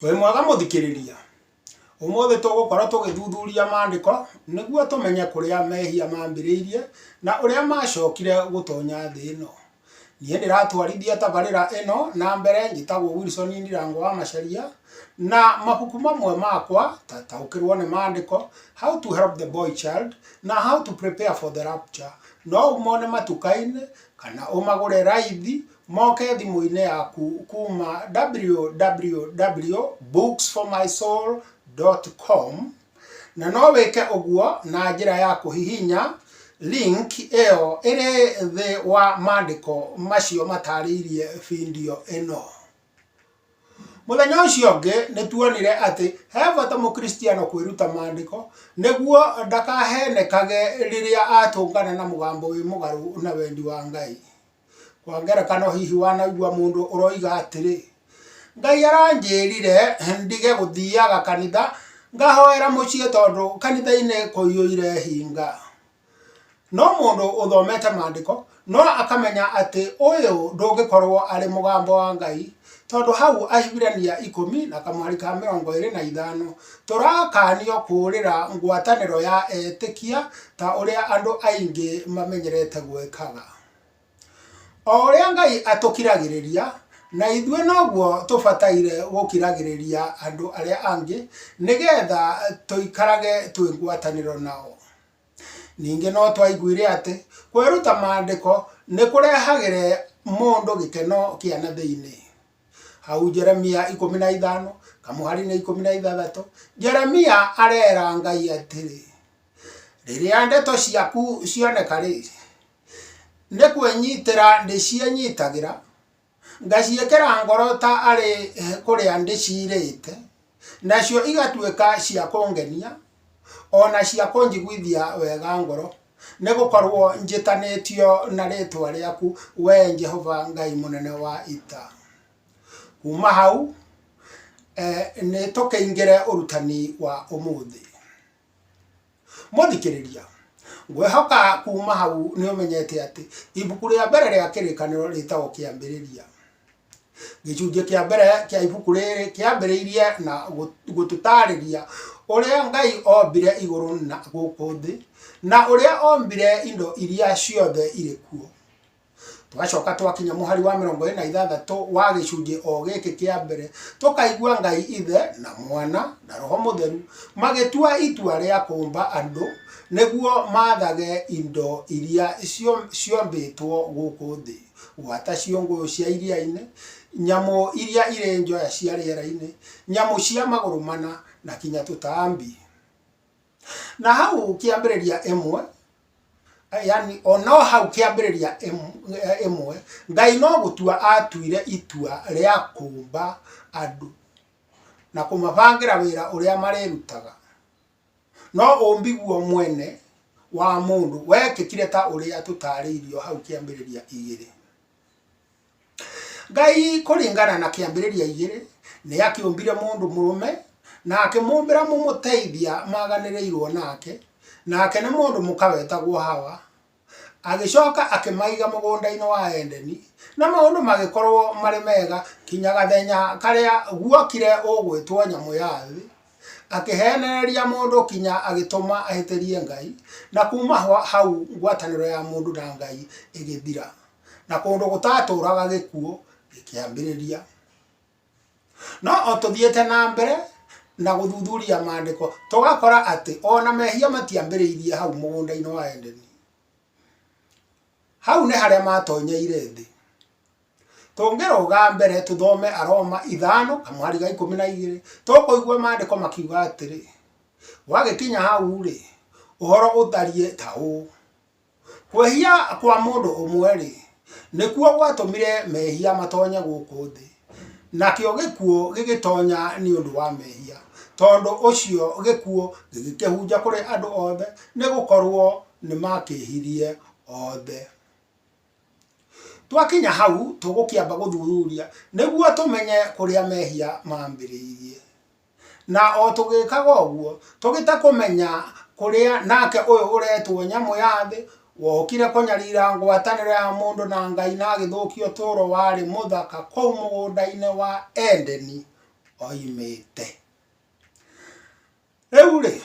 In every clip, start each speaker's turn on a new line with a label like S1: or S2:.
S1: Wĩ mwega mũthikĩrĩria? Ũmũthĩ tũgũkorwo tũgĩthuthuria maandĩko nĩguo tũmenye kũrĩa mehia mambĩrĩirie na ũrĩa macokire gũtonya thĩ ĩno. Niĩ ndĩratwarithia tabarĩra ĩno na mbere njĩtagwo Wilson Ndirango wa Macharia na mabuku mamwe makwa ta Taũkĩrwo nĩ Maandĩko, How to Help the Boy Child na How to Prepare for the Rapture no ũmone matuka-inĩ kana ũmagũre raithi Moke thimũ-inĩ yaku kuuma www.booksformysoul.com, na no wĩke ũguo na njĩra ya kũhihinya link ĩyo ĩrĩ thĩ wa maandĩko macio mataarĩirie video ĩno. Mũthenya ũcio ũngĩ nĩ tuonire atĩ he bata Mũkristiano kwĩruta Maandĩko nĩguo ndakaheenekage rĩrĩa atũngana na mũgambo wĩ mũgarũ na wendi wa Ngai. Kwa ngerekano, hihi wanaigua mũndũ ũroiga atĩrĩ, Ngai aranjĩrire ndige gũthiaga kanitha ngahoera mũciĩ tondũ kanitha-inĩ kũiyũire hinga? No mũndũ ũthomete maandĩko no akamenya atĩ ũyũ ndũngĩkorũo arĩ mũgambo wa Ngai, tondũ hau Ahibirania ikũmi na kamweri ka mĩrongo ĩrĩ na ithano, tũrakanio kũũrĩra ngwatanĩro ya etĩkia ta ũrĩa andũ aingĩ mamenyerete gwĩkaga. O ũrĩa Ngai atũkiragĩrĩria, na ithuĩ noguo tũbataire gũkiragĩrĩria andũ arĩa angĩ, nĩgetha tũikarage twĩ ngwatanĩro nao. Ningĩ no twaiguire atĩ, kwĩruta maandĩko nĩ kũrehagĩra mũndũ gĩkeno kĩa na thĩiniĩ. Hau Jeremia ikũmi na ithano, kamũhari-inĩ ikũmi na ithathatũ, Jeremia arera Ngai atĩrĩ, rĩrĩa ndeto ciaku cioneka rĩ, nĩ kwĩnyitĩra ndĩciĩnyitagĩra, ngaciĩkĩra ngoro ta arĩ kũrĩa ndĩciirĩte. nacio igatuĩka cia kũngenia o na cia kũnjiguithia wega ngoro, nĩ gũkorũo njĩtanĩtio na rĩĩtwa rĩaku, wee Jehova Ngai mũnene wa ita. Kuuma hau, nĩ tũkĩingĩre ũrutani wa ũmũthĩ. mũthikĩrĩria ngwehoka kuma hau nĩ ũmenyete atĩ ibuku rĩa mbere rĩa kĩrĩkanĩro rĩtagwo kĩambĩrĩria gĩcunjĩ kĩa mbere kĩa ibuku rĩrĩ kĩambĩrĩirie na gũtũtarĩria ũrĩa ngai ombire igũrũ na gũkũ thĩ na ũrĩa ombire indo iria ciothe irĩ kuo tũgacoka twakinya mũhari wa mĩrongo ĩna ithathatũ wa gĩcunjĩ o gĩkĩ kĩa mbere tũkaigua ngai ithe na mwana na roho mũtheru magĩtua itua rĩa kũmba andũ nĩguo mathage indo iria cio- ciombĩtwo gũkũ thĩ gwata ciũngũ cia iria-inĩ nyamũ iria irĩ njoya cia rĩera-inĩ nyamũ cia magũrũ mana na kinya tũtambi Na hau kĩambĩrĩria ĩmwe, yani o no hau kĩambĩrĩria ĩmwe, Ngai no gũtua aatuire itua rĩa kũũmba andũ na kũmabangĩra wĩra ũrĩa marĩrutaga. No ũũmbi guo mwene wa mũndũ wekĩkire ta ũrĩa tũtaarĩirio hau kĩambĩrĩria igĩrĩ. Ngai kũringana na kĩambĩrĩria igĩrĩ nĩ akĩũmbire mũndũ mũrũme na akĩmũmbĩra mũmũteithia maganĩrĩirwo nake, nake nĩ mũndũ mũka wetagwo Hawa. Agĩcoka akĩmaiga mũgũnda-inĩ wa Edeni na maũndũ magĩkorwo marĩ mega kinya gathenya karĩa guokire ũgwĩtwo nyamũ ya thĩ, akĩhenereria mũndũ kinya agĩtũma ahĩtĩrie Ngai na kuma hau ngwatanĩro ya mũndũ na Ngai ĩgĩthira. na kũndũ gũtatũũraga gĩkuũ gĩkĩambĩrĩria. No o tũthiĩte na mbere na gũthuthuria maandĩko tũgakora atĩ ona mehia matiambĩrĩirie hau mũgũnda-inĩ wa Edeni. Hau nĩ harĩa matonyeire thĩ. Tũngĩrũga mbere tũthome Aroma ithano kamũhari ga ikũmi na igĩrĩ tũkũigua maandĩko makiuga atĩrĩ, wagĩkinya hau-rĩ, ũhoro ũtariĩ ta ũũ, Kwĩhia kwa mũndũ ũmwe-rĩ, nĩkuo gwatũmire mehia matonye gũkũ thĩ, nakĩo gĩkuũ gĩgĩtonya nĩ ũndũ wa mehia, tondũ ũcio gĩkuũ gĩgĩkĩhunja kũrĩ andũ othe, nĩ gũkorwo nĩ makĩĩhirie othe. Twakinya hau, tũgũkĩamba gũthuthuria nĩguo tũmenye kũrĩa mehia mambĩrĩirie. Na o tũgĩkaga ũguo, tũgĩte kũmenya kũrĩa nake ũyũ ũretwo nyamũ ya thĩ, wokire kũnyarira ngwatanĩro ya mũndũ na Ngai na agĩthũkia ũtũũro warĩ mũthaka kũu mũgũnda-inĩ wa Edeni oimĩte. Rĩu-rĩ,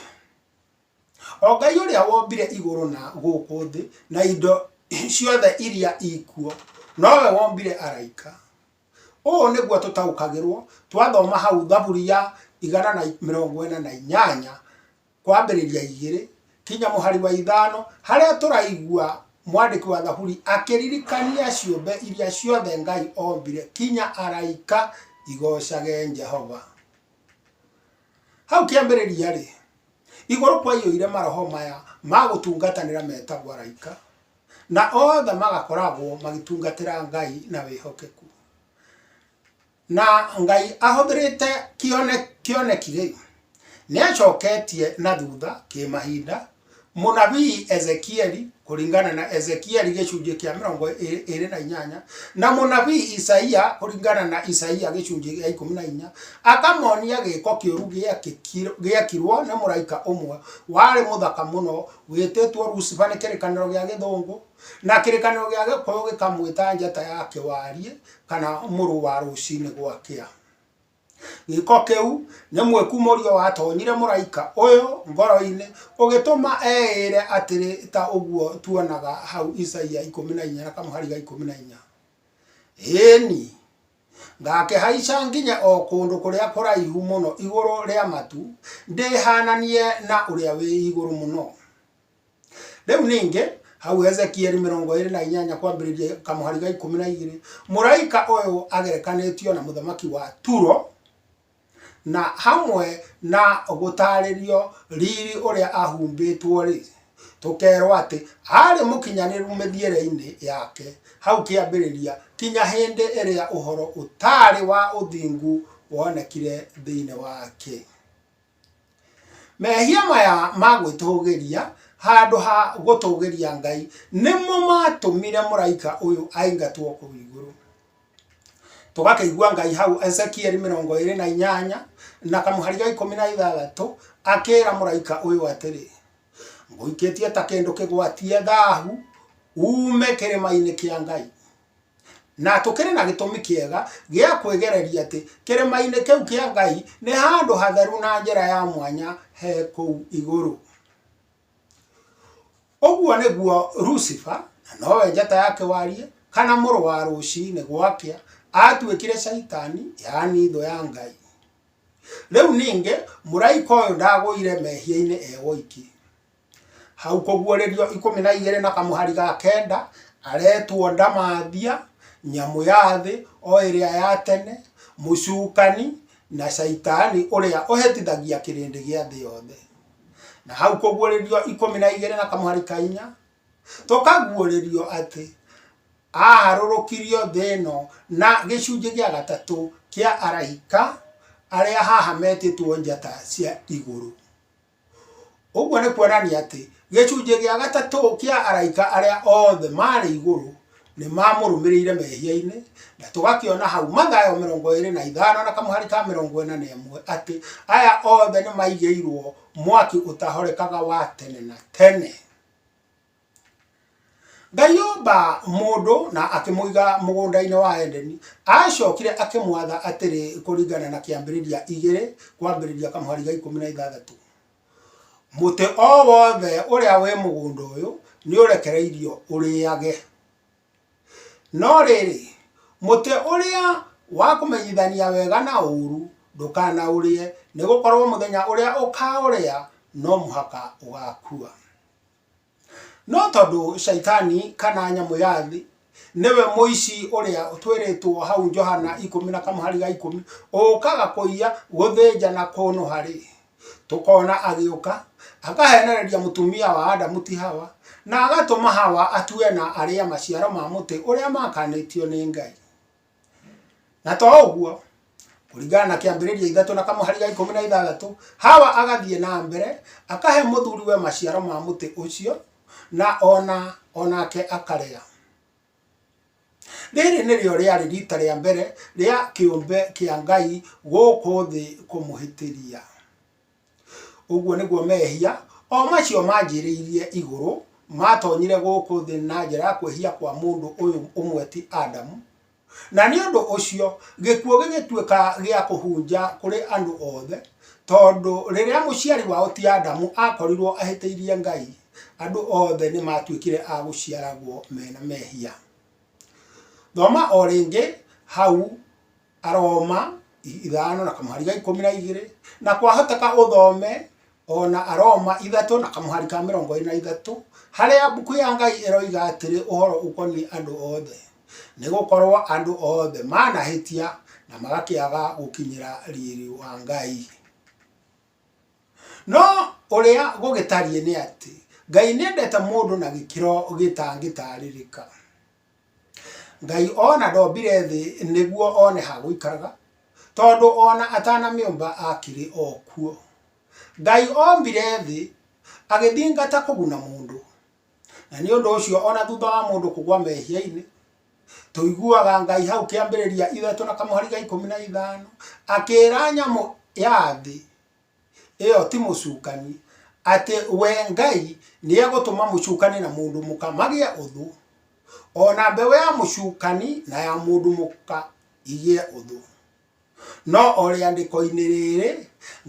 S1: o Ngai ũrĩa wombire igũrũ na gũkũ thĩ na indo ciothe iria ikuo, nowe wombire araika. Ũũ nĩguo tũtaũkagĩrwo twathoma hau thaburi ya igana na mĩrongo ĩna na inyanya kwambĩrĩria igĩrĩ kinya mũhari wa ithano harĩa tũraigua mwandĩki wa thaburi akĩririkania ciũmbe iria ciothe Ngai ombire kinya araika igocage Jehova. Hau kĩambĩrĩria-rĩ, igũrũ kwaiyũire maroho maya ma gũtungatanĩra metagwo araika. na othe magakoragwo magĩtungatĩra Ngai na wĩhokeku. Na Ngai ahũthĩrĩte kĩoneki gĩkĩ, nĩ acoketie na thutha kĩmahinda mũnabii Ezekieli kũringana na Ezekieli gĩcunjĩ kĩa mĩrongo ĩrĩ na inyanya na mũnabii Isaia kũringana na Isaia gĩcunjĩ gĩa ikũmi na inya akamonia gĩko kĩũru gĩekirwo nĩ mũraika ũmwe warĩ mũthaka mũno Wĩtĩtwo Lucifer nĩ kĩrĩkanĩro gĩa Gĩthũngũ, na kĩrĩkanĩro gĩa Gĩkũyũ gĩkamwĩta njata ya kĩwariĩ kana mũrũ wa rũcinĩ gwakĩa. Gĩĩko kĩu nĩ mwĩkumũrio watonyire mũraika ũyũ ngoro-inĩ ũgĩtũma eĩre atĩrĩ ta ũguo tuonaga hau Isaia ikũmi na inya na kamũhari ga ikũmi na inya, Ĩĩni! Ngaakĩhaica nginya o kũndũ kũrĩa kũraihu mũno igũrũ rĩa matu, ndĩhaananie na ũrĩa wĩ igũrũ mũno. Rĩu ningĩ, hau Ezekieli mĩrongo ĩrĩ na inyanya kwambĩrĩria kamũhari ga ikũmi na igĩrĩ, mũraika ũyũ agerekanĩtio na mũthamaki wa Turo, Na hamwe na gũtaarĩrio riiri ũrĩa aahumbĩtwo-rĩ, tũkeerwo atĩ, Aarĩ mũkinyanĩru mĩthiĩre-inĩ yake hau kĩambĩrĩria, kinya hĩndĩ ĩrĩa ũhoro ũtaarĩ wa ũthingu wonekire thĩinĩ wake. Mehia maya ma gwĩtũũgĩria handũ ha gũtũũgĩria Ngai nĩmo maatũmire mũraika ũyũ aingatwo kũu igũrũ. tũgakĩigua ngai hau ezekieli mĩrongo ĩrĩ na inyanya na kamũhari ga ikũmi na ithathatũ akĩra mũraika ũyũ atĩrĩ ngũikĩtie ta kĩndũ kĩgwatie thahu ume kĩrĩma-inĩ kĩa ngai na tũkĩrĩ na gĩtũmi kĩega gĩa kwĩgereria atĩ kĩrĩma-inĩ kĩu kĩa ngai nĩ handũ hatheru na njĩra ya mwanya he kũu igũrũ Ũguo nĩguo Lucifer, na nowe njata ya kĩwariĩ, kana mũrũ wa rũciinĩ gwakĩa, aatuĩkire Shaitani, yaani thũ ya Ngai. Rĩu ningĩ, mũraika ũyũ ndagũire mehia-inĩ e woiki. Hau kũguũrĩrio ikũmi na igĩrĩ na kamũhari ga kenda, aretwo ndamathia, nyamũ ya thĩ, o ĩrĩa ya tene, mũcukani, na Shaitani ũrĩa ũhĩtithagia kĩrĩndĩ gĩa thĩ yothe. na hau kũguũrĩrio ikũmi na igĩrĩ na kamũhari ka inya tũkaguũrĩrio atĩ aharũrũkirio thĩ ĩno na gĩcunjĩ gĩa gatatũ kĩa araika arĩa haha metĩtwo njata cia igũrũ ũguo nĩ kuonania atĩ gĩcunjĩ gĩa gatatũ kĩa araika arĩa othe marĩ igũrũ Nĩ maamũrũmĩrĩire mehia-inĩ, na tũgakĩona hau Mathayo mĩrongo ĩrĩ na ithano na kamũhari ka mĩrongo ĩna na ĩmwe atĩ aya othe nĩ maigĩirwo mwaki ũtahorekaga wa tene na tene. Ngai omba mũndũ na akĩmũiga mũgũnda-inĩ wa Edeni, acokire akĩmwatha atĩrĩ kũringana na kĩambĩrĩria igĩrĩ kwambĩrĩria kamũhari ga ikũmi na ithathatũ. Mũtĩ o wothe ũrĩa wĩ mũgũnda ũyũ nĩũrekereirio ũrĩage. No rĩrĩ, mũtĩ ũrĩa wa kũmenyithania wega na ũũru ndũkanaũrĩe, nĩgũkorwo mũthenya ũrĩa ũkaũrĩa no mũhaka ũgakua. No tondũ Shaitani kana nyamũ ya thĩ nĩwe mũici ũrĩa twĩrĩtwo hau Johana ikũmi na kamũhari ga ikũmi, ũkaga kũiya, gũthĩnja na kũnũha-rĩ, tũkona agĩũka akahenereria mũtumia wa Adamu ti Hawa, na agatũma Hawa atue na arĩe maciaro ma mũtĩ ũrĩa maakanĩtio nĩ Ngai. Na to ũguo, kũringana na kĩambĩrĩria ithatũ na kamũhari ga ikũmi na ithathatũ, Hawa agathiĩ na mbere akahe mũthuriwe maciaro ma mũtĩ ũcio, na ona o nake akarĩa. Rĩrĩ nĩrĩo rĩarĩ rita rĩa mbere rĩa kĩũmbe kĩa Ngai gũkũ thĩ kũmũhĩtĩria. Ũguo nĩguo mehia o macio manjĩrĩirie igũrũ maatonyire gũkũ thĩ na njĩra ya kwĩhia kwa mũndũ ũyũ ũmwe ti Adamu. Na nĩ ũndũ ũcio gĩkuũ gĩgĩtuĩka gĩa kũhunja kũrĩ andũ othe, tondũ rĩrĩa mũciari wao ti Adamu akorirwo ahĩtĩirie Ngai, andũ othe nĩ maatuĩkire a gũciaragwo mena mehia. Thoma o rĩngĩ hau Aroma ithano na kamũhari ga ikũmi na igĩrĩ, na kwahoteka ũthome o na Aroma ithatũ na kamũhari ka mĩrongo ĩĩrĩ na ithatũ, harĩa mbuku ya Ngai ĩroiga atĩrĩ ũhoro ũkoniĩ andũ othe, Nĩ gũkorũo andũ othe manahĩtia na magakĩaga gũkinyĩra riri wa Ngai. No ũrĩa gũgĩtariĩ nĩ atĩ, Ngai nĩ endete mũndũ na gĩkĩro gĩtangĩtaarĩrĩka. Ngai ona ndombire thĩ nĩguo one ha gũikaraga, tondũ ona atanamĩũmba akĩrĩ o kuo. Ngai ombire thĩ agĩthingata kũguna mũndũ, na nĩ ũndũ ũcio ona thutha wa mũndũ kũgwa mehia-inĩ, tũiguaga Ngai hau kĩambĩrĩria ithatũ na kamũhari ga ikũmi na ithano, akĩra nyamũ ya thĩ ĩyo ti mũcukani, atĩ we Ngai nĩegũtũma mũcukani na mũndũ mũka magĩe ũthũ, o na mbeũ ya mũcukani na ya mũndũ mũka igĩe ũthũ. No o rĩandĩko-inĩ rĩrĩ,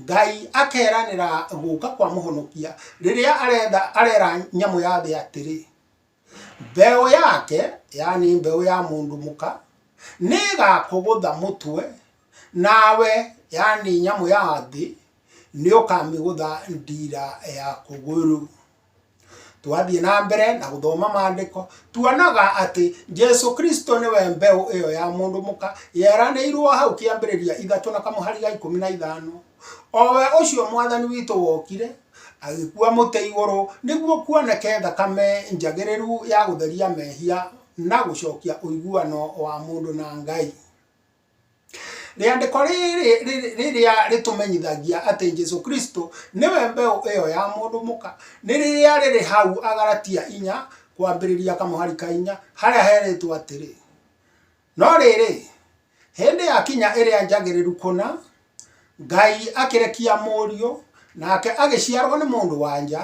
S1: Ngai akeranĩra gũka kwa mũhonokia rĩrĩa arenda arera nyamũ ya thĩ atĩrĩ. Mbeũ yake, yani mbeũ ya mũndũ mũka, nĩĩgakũgũtha mũtwe, nawe, yani nyamũ ya thĩ, nĩũkamĩgũtha ndiira ya kũgũrũ. Twathiĩ na mbere na gũthoma maandĩko, tuonaga atĩ Jesu Kristo nĩwe mbeũ ĩyo ya mũndũ mũka, yeranĩirwo hau kĩambĩrĩria ithatũ na kamũhari ga ikũmi na ithano. O we ũcio Mwathani witũ wokire, Agĩkua mũtĩ igũrũ nĩguo kuoneke thakame njagĩrĩru ya gũtheria mehia na gũcokia ũiguano wa mũndũ na Ngai. Rĩandĩko rĩrĩ rĩrĩa rĩtũmenyithagia atĩ Jesu Kristo nĩwe mbeũ ĩyo ya mũndũ mũka, nĩ rĩrĩa rĩrĩ hau Agalatia inya, kwambĩrĩria kamũhari ka inya, harĩa herĩtwo atĩrĩ, No rĩrĩ, hĩndĩ yakinya ĩrĩa njagĩrĩru kũna, Ngai akĩrekia mũriũ, nake agĩciarwo nĩ mũndũ-wa-nja,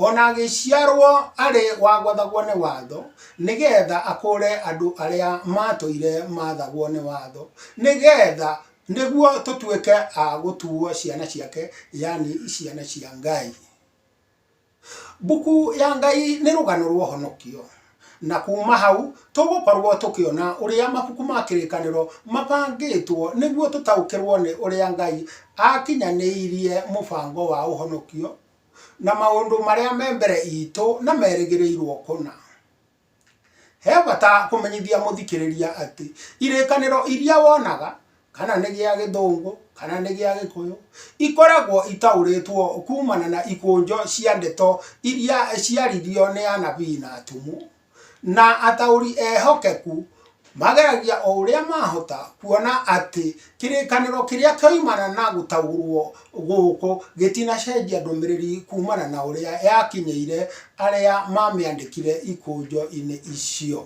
S1: o na agĩciarwo arĩ wa gwathagwo nĩ watho, nĩ getha akũũre andũ arĩa matũire mathagwo nĩ watho, nĩ getha, nĩguo tũtuĩke a gũtuwo ciana ciake, yaani ciana cia Ngai. Mbuku ya Ngai nĩ rũgano rwa ũhonokio, na kuuma hau tũgũkorũo tũkĩona ũrĩa mabuku ma Kĩrĩkanĩro mabangĩtwo nĩguo tũtaũkĩrũo nĩ ũrĩa Ngai aakinyanĩirie mũbango wa ũhonokio, na maũndũ marĩa me mbere itũ na merĩgĩrĩirũo kũna. He bata kũmenyithia mũthikĩrĩria atĩ irĩkanĩro iria wonaga, kana nĩ gĩa gĩthũngũ, kana nĩ gĩa gĩkũyũ, ikoragwo itaũrĩtwo kumana na ikũnjo cia ndeto iria ciaririo nĩ anabii na atũmwo, na ataũri ehokeku Mageragia o ũrĩa maahota kuona atĩ kĩrĩkanĩro kĩrĩa kĩoimana na gũtaũrũo gũkũ gĩtinacenjia ndũmĩrĩri kuumana na ũrĩa yakinyĩire arĩa mamĩandĩkire ikũnjo-inĩ icio.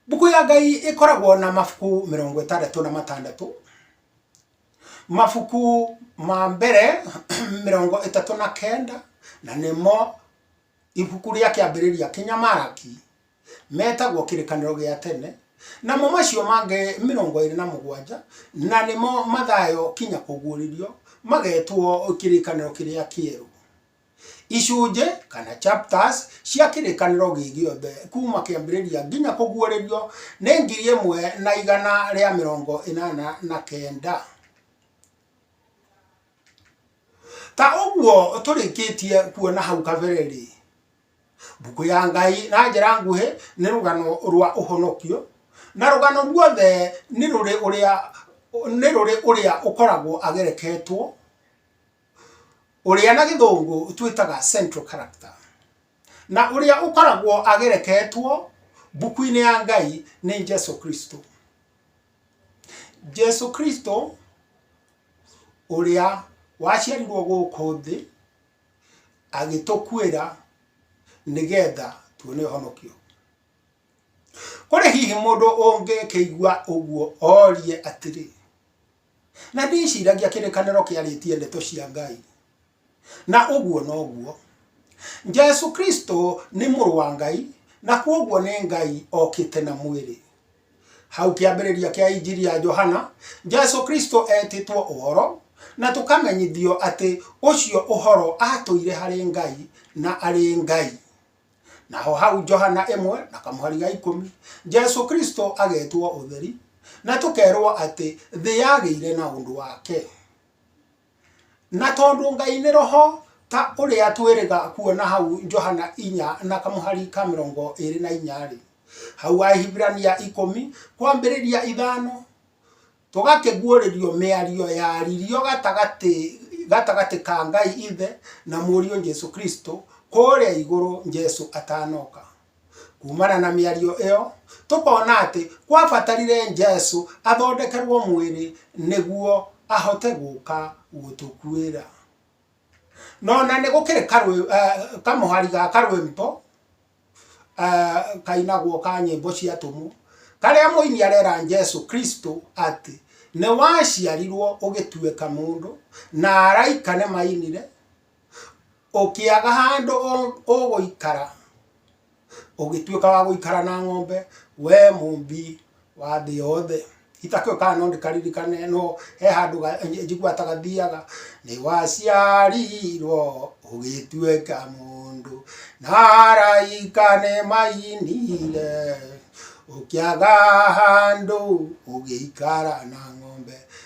S1: Mbuku ya Ngai ĩkoragwo na mabuku mĩrongo ĩtandatũ na matandatũ. Mabuku ma mbere mĩrongo ĩtatũ na kenda na nĩmo Ibuku rĩa Kĩambĩrĩria Kĩnyamaraki metagwo Kĩrĩkanĩro gĩa Tene, namo macio mangĩ mĩrongo ĩrĩ na mũgwanja, na nĩmo Mathayo kinya Kũguũrĩrio, magetwo Kĩrĩkanĩro kĩrĩa Kĩerũ. Icunjĩ kana chapters cia Kĩrĩkanĩro gĩ gĩothe kuuma Kĩambĩrĩria nginya Kũguũrĩrio nĩ ngiri ĩmwe na igana rĩa mĩrongo ĩnana na kenda. ta ũguo tũrĩkĩtie kuona hau kabere-rĩ mbũkũ ya ngai na njĩra nguhĩ nĩ rũgano rwa ũhonokio na rũgano ruothe nĩ rũrĩ ũrĩa nĩ rũrĩ ũrĩa ũkoragwo agereketwo ũrĩa na gĩthũngũ twĩtaga central character na ũrĩa ũkoragwo agereketwo mbũkũ-inĩ ya ngai nĩ Jesũ Kristũ. Jesũ Kristo ũrĩa waciarirwo gũkũ thĩ, agĩtũkuĩra nĩgetha tuone ũhonokio. Kũrĩ hihi mũndũ ũngĩkĩigua ũguo orie atĩrĩ, na ndĩciragia kĩrĩkanĩro kĩarĩtie ndeto cia Ngai? Na ũguo noguo. Jesu Kristo nĩ mũrũ wa Ngai, na kwoguo nĩ Ngai okĩte na mwĩrĩ. Hau kĩambĩrĩria kĩa Injiri ya Johana, Jesu Kristo etĩtwo ũhoro, na tũkamenyithio atĩ ũcio ũhoro atũire harĩ Ngai na arĩ Ngai. Naho hau Johana 1 na kamũhari ga ikũmi, Jesu Kristo agetwo ũtheri, na tũkerwo atĩ thĩ yagĩire na ũndũ wake. Na tondũ Ngai nĩ Roho, ta ũrĩa twĩrĩga kuona hau Johana inya na kamũhari ka mĩrongo ĩĩrĩ na inya-rĩ, hau Ahibirania ikũmi kwambĩrĩria ithano, tũgakĩguũrĩrio mĩario yaririo gatagatĩ gatagatĩ ka Ngai Ithe na Mũriũ Jesu Kristo kũũrĩa igũrũ Jesu atanoka. Kuumana na mĩario ĩyo, tũkona atĩ kwabatarire Jesu athondekerũo mwĩrĩ nĩguo ahote gũka gũtũkuĩra. No na nĩ gũkĩrĩ kamũhari ga karwĩmbo kainagwo ka nyĩmbo cia atũmwo, karĩa mũini arera Jesu Kristo atĩ, "Nĩ waciarirũo ũgĩtuĩka mũndũ, na araika nĩ mainire, Ũkĩaga handũ ũgũikara, ũgĩtuĩka wa gũikara na ng'ombe, we mũmbi wa thĩ yothe, itakĩũĩ kana no ndĩkaririkane no he handũ njiguaga ta gathiaga, nĩ waciarirwo ũgĩtuĩka mũndũ, na araika nĩ mainire, ũkĩaga handũ ũgĩikara na ng'ombe,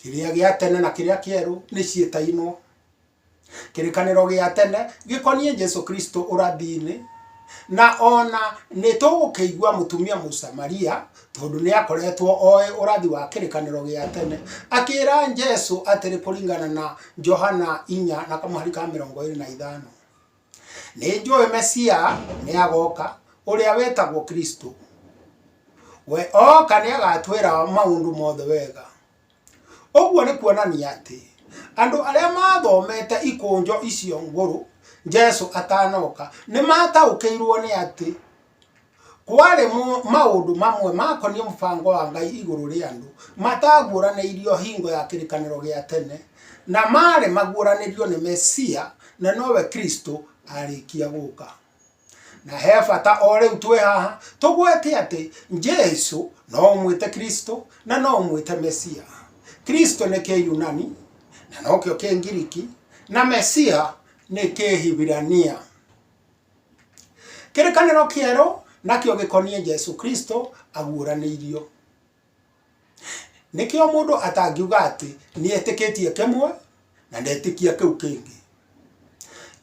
S1: kĩrĩa gĩa tene na kĩrĩa kĩerũ nĩ ciĩtainwo kĩrĩkanĩro gĩa tene gĩkoniĩ jesu kristo ũrathiinĩ na ona nĩ tũgũkĩigua mũtumia mũsamaria tondũ nĩ akoretwo oĩ ũrathi wa kĩrĩkanĩro gĩa tene akĩra jesu atĩrĩ kũringana na johana inya na kamũhari ka mĩrongo ĩrĩ na ithano Nĩnjũĩ Mesia nĩagoka, ũrĩa wĩtagwo Kristũ. We oka nĩagatwĩra maũndũ mothe wega. Ũguo nĩ kuonania atĩ, andũ arĩa mathomete ikũnjo icio ngũrũ Jesũ atanoka, nĩmataũkĩirwo nĩ atĩ, Kwarĩ mo- maũndũ mamwe makoniĩ mũbango wa Ngai igũrũ rĩa andũ mataaguũranĩirio hingo ya kĩrĩkanĩro gĩa tene, na maarĩ maguũranĩrio nĩ Mesia, na nowe Kristo, arĩkia gũka. Na he bata o rĩu twĩ haha tũgwete atĩ Jesu no ũmwĩte Kristo na no ũmwĩte Mesia. Kristo nĩ Kĩyunani na nokĩo Kĩngiriki, na Mesia nĩ Kĩhibirania. kĩrĩkanĩro kĩerũ nakĩo gĩkoniĩ Jesu Kristo aguũranĩirio. Nĩkĩo mũndũ atangiuga atĩ nĩetĩkĩtie kĩmwe na ndetĩkia kĩu kĩngĩ.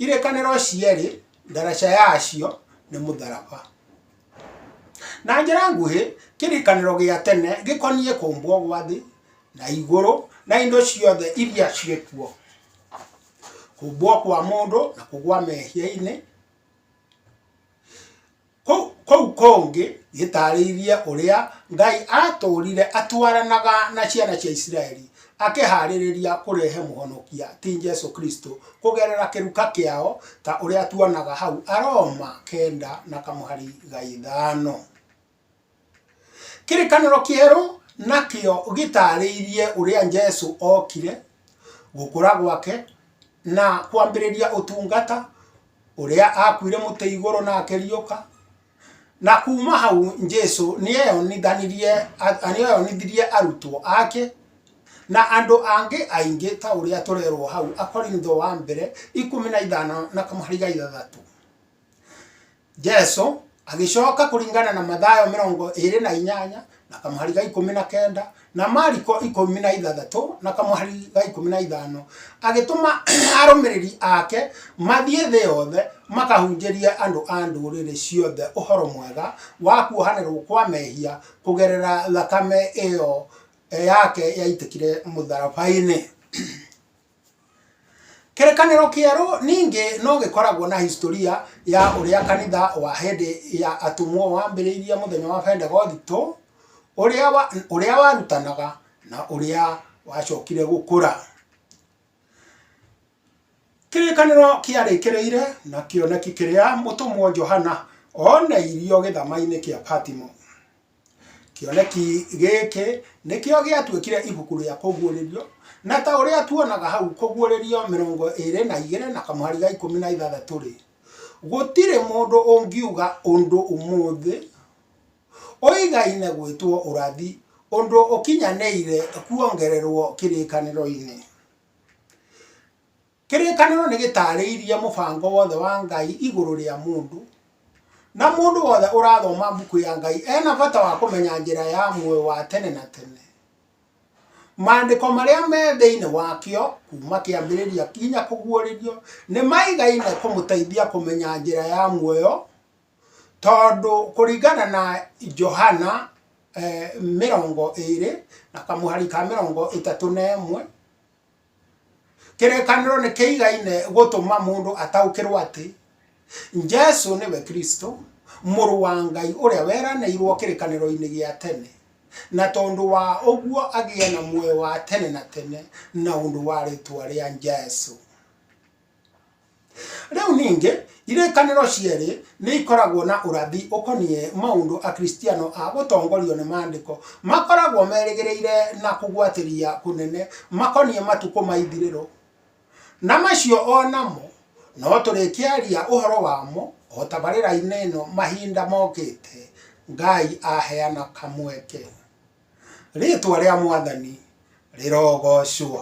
S1: Irĩkanĩro cierĩ ndaraca yacio nĩ mũtharaba. Na njĩra nguhĩ, kĩrĩkanĩro gĩa tene gĩkoniĩ kũmbwo gwa thĩ na igũrũ na indo ciothe iria ciĩ kuo. kumbwo kwa mũndũ na kũgwa mehia-inĩ kũu kũngĩ gĩtaarĩirie ũrĩa ngai atũũrire atwaranaga na ciana cia isiraeli akĩhaarĩrĩria kũrehe mũhonokia ti jesu kristo kũgerera kĩruka kĩao ta ũrĩa tuonaga hau aroma kenda na kamũhari ga ithano Kĩrĩkanĩro kĩerũ nakĩo gĩtaarĩirie ũrĩa Jesu ookire, gũkũra gwake, na kwambĩrĩria ũtungata, ũrĩa aakuire mũtĩ igũrũ na akĩriũka. Na kuuma hau Jesu nĩ eeyonithanirie, nĩ eeyonithirie arutwo aake, na andũ angĩ aingĩ ta ũrĩa tũrerwo hau Akorintho wa mbere, ikũmi na ithano na kamũhari ga ithathatũ. Jesu agĩcoka kũringana na Mathayo mĩrongo ĩĩrĩ na inyanya na kamũhari ga ikũmi na kenda na Mariko ikũmi na ithathatũ na kamũhari ga ikũmi na ithano agĩtũma arũmĩrĩri ake mathiĩ thĩ yothe makahunjĩrie andũ a ndũrĩrĩ ciothe ũhoro mwega wa kuohanĩrwo kwa mehia kũgerera thakame ĩyo yake yaitĩkire mũtharaba-inĩ. Kĩrĩkanĩro Kĩerũ ningĩ no gĩkoragwo na hisitoria ya ũrĩa kanitha wa hĩndĩ ya atũmwo wambĩrĩirie mũthenya wa Bendegothito, ũrĩa warutanaga na ũrĩa wacokire gũkũra. Kĩrĩkanĩro kĩarĩkĩrĩire na kĩoneki kĩrĩa mũtũmwo Johana oneirio gĩthamainĩ kĩa Patimo. Kĩoneki gĩkĩ nĩkĩo gĩatuĩkire ibuku rĩa kũguũrĩrio, na ta ũrĩa tuonaga hau kũguũrĩrio mĩrongo ĩrĩ na igĩrĩ na kamũhari ga ikũmi na ithathatũ-rĩ, gũtirĩ mũndũ ũngiuga ũndũ ũmũthĩ ũigaine gwĩtwo ũrathi, ũndũ ũkinyanĩire kuongererwo kĩrĩkanĩro-inĩ. Kĩrĩkanĩro nĩ gĩtaarĩirie mũbango wothe wa Ngai igũrũ rĩa mũndũ, na mũndũ wothe ũrathoma Mbuku ya Ngai ena bata wa kũmenya njĩra ya muoyo wa tene na tene. Maandĩko marĩa me thĩinĩ wakĩo, kuuma kĩambĩrĩria nginya kũguũrĩrio, nĩ maigaine kũmũteithia kũmenya njĩra ya muoyo, tondũ kũringana na Johana mĩrongo ĩĩrĩ na kamũhari ka mĩrongo ĩtatũ na ĩmwe, Kĩrĩkanĩro nĩ kĩigaine gũtũma mũndũ ataũkĩrũo atĩ Jesu nĩwe Kristo, Mũrũ wa Ngai ũrĩa weranĩirũo kĩrĩkanĩro-inĩ gĩa tene, na tondũ wa ũguo agĩe na muoyo wa tene na tene na ũndũ wa rĩĩtwa rĩa Jesu. Rĩu ningĩ, irĩkanĩro cierĩ nĩ ikoragwo na ũrathi ũkoniĩ maũndũ Akristiano a gũtongorio nĩ Maandĩko makoragwo merĩgĩrĩire na kũgwatĩria kũnene makoniĩ matukũ ma ithirĩro, na macio o namo no tũrĩkĩaria ũhoro wamo o tabarĩra-inĩ ĩno mahinda mokĩte, Ngai aheana kamweke. Rĩĩtwa rĩa Mwathani rĩrogoocwo!